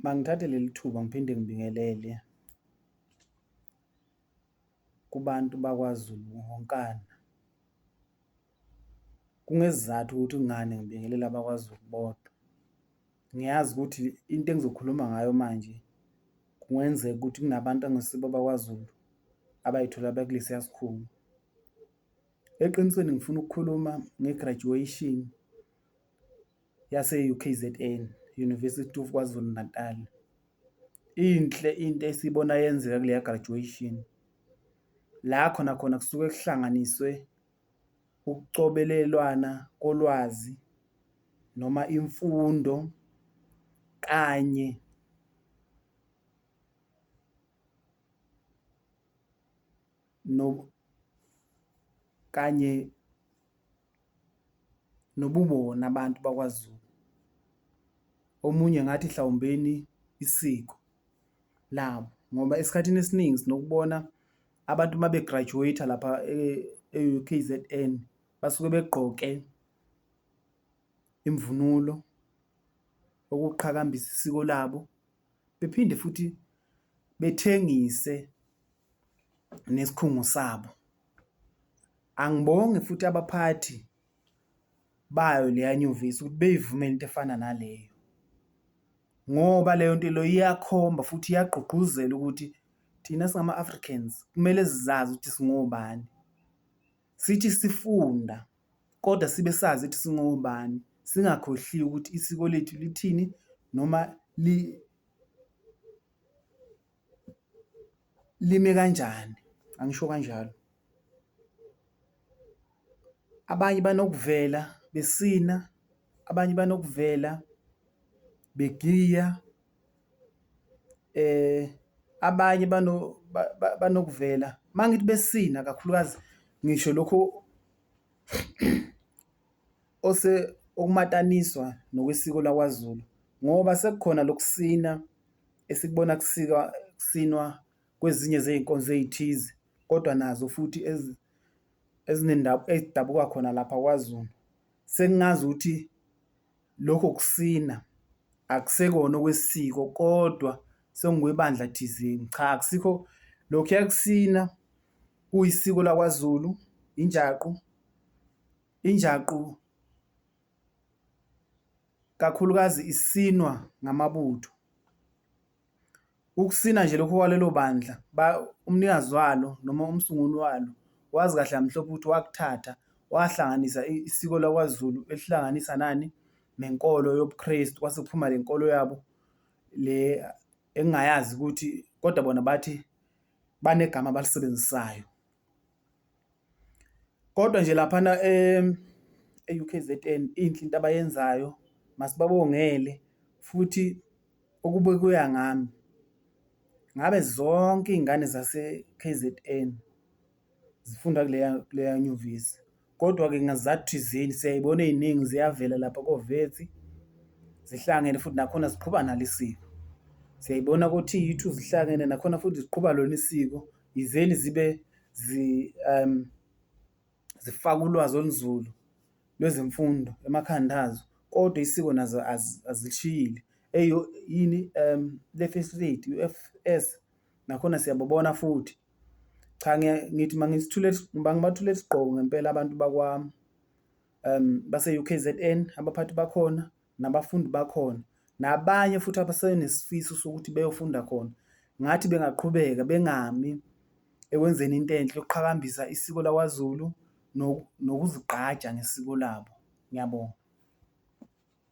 Mangithathe leli thuba ngiphinde ngibingelele kubantu bakwaZulu wonkana. Kungesizathu ukuthi kungani ngibingelela abakwaZulu bodwa, ngiyazi ukuthi into engizokhuluma ngayo manje kungenzeka ukuthi kunabantu angesibo abakwaZulu abayithola bekulesiya sikhungo. Eqinisweni ngifuna ukukhuluma nge-graduation. yase-UKZN, University of KwaZulu-Natal. Inhle into esiyibona yenzeka kuleya graduation la khona khona kusuke kuhlanganiswe ukucobelelwana kolwazi noma imfundo kanye no, kanye nobubona abantu bakwaZulu. Omunye ngathi hlawumbeni isiko labo ngoba esikhathini esiningi sinokubona abantu uma begraduate lapha e-KZN e basuke begqoke imvunulo okuqhakambisa isiko labo. bephinde futhi bethengise nesikhungo sabo angibonge futhi abaphathi bayo leya nyuvesi ukuthi beyivumele into efana naleyo ngoba leyo nto leyo iyakhomba futhi iyagqugquzela ukuthi thina singama-africans kumele sizazi ukuthi singobani sithi sifunda kodwa sibe sazi ukuthi singobani singakhohliwe ukuthi isiko lethu lithini noma li lime kanjani angisho kanjalo abanye banokuvela besina abanye banokuvela begiya. abanye banokuvela mangithi besina kakhulukazi ngisho lokhu okumataniswa nokwesiko lakwaZulu ngoba sekukhona lokusina esikubona kusikwa kusinwa kwezinye zey'nkonzo ey'thize kodwa nazo futhi ezidabuka khona lapha kwaZulu. Sengingazi ukuthi. Lokho kusina akusekona okwesiko kodwa sengikwebandla thizeni. Cha akusikho lokhuya kusina kuyisiko lakwaZulu, injaqu. Injaqu kakhulukazi isinwa ngamabutho. Ukusina nje lokho kwalelo bandla umnikazi walo noma umsunguli walo wazi kahle kamhlophe ukuthi wakuthatha wahlanganisa isiko lakwaZulu elihlanganisa nani? Nenkolo yobuKrestu kwase kuphuma le nkolo yabo le engingayazi ukuthi kodwa bona bathi banegama abalisebenzisayo. Kodwa nje laphana e-U_K_Z_N inhle into abayenzayo masibabongele futhi ukube kuya ngami ngabe zonke iy'ngane zase-K_Z_N zifunda kuleya kuleya nyuvesi. Kodwa-ke ngezizathu thizeni siyayibona ey'ningi ziyavela lapha koVetsi zihlangene futhi nakhona ziqhuba nalo isiko. Siyayibona ko-T_U two zihlangene nakhona futhi ziqhuba lona isiko yizeni zibe zifaka ulwazi olunzulu lwezemfundo emakhanda azo kodwa isiko nazo azilishiyile. Eyi yini le first lady u-F_S. nakhona siyababona futhi cha ngithi mangisithule ngibathule isigqoko ngempela abantu bakwami um base-UKZN abaphathi bakhona nabafundi bakhona nabanye futhi abasenesifiso sokuthi beyofunda khona ngathi bengaqhubeka bengami ekwenzeni into enhle yokuqhakambisa isiko lakwaZulu nokuzigqaja ngesiko labo. Ngiyabonga.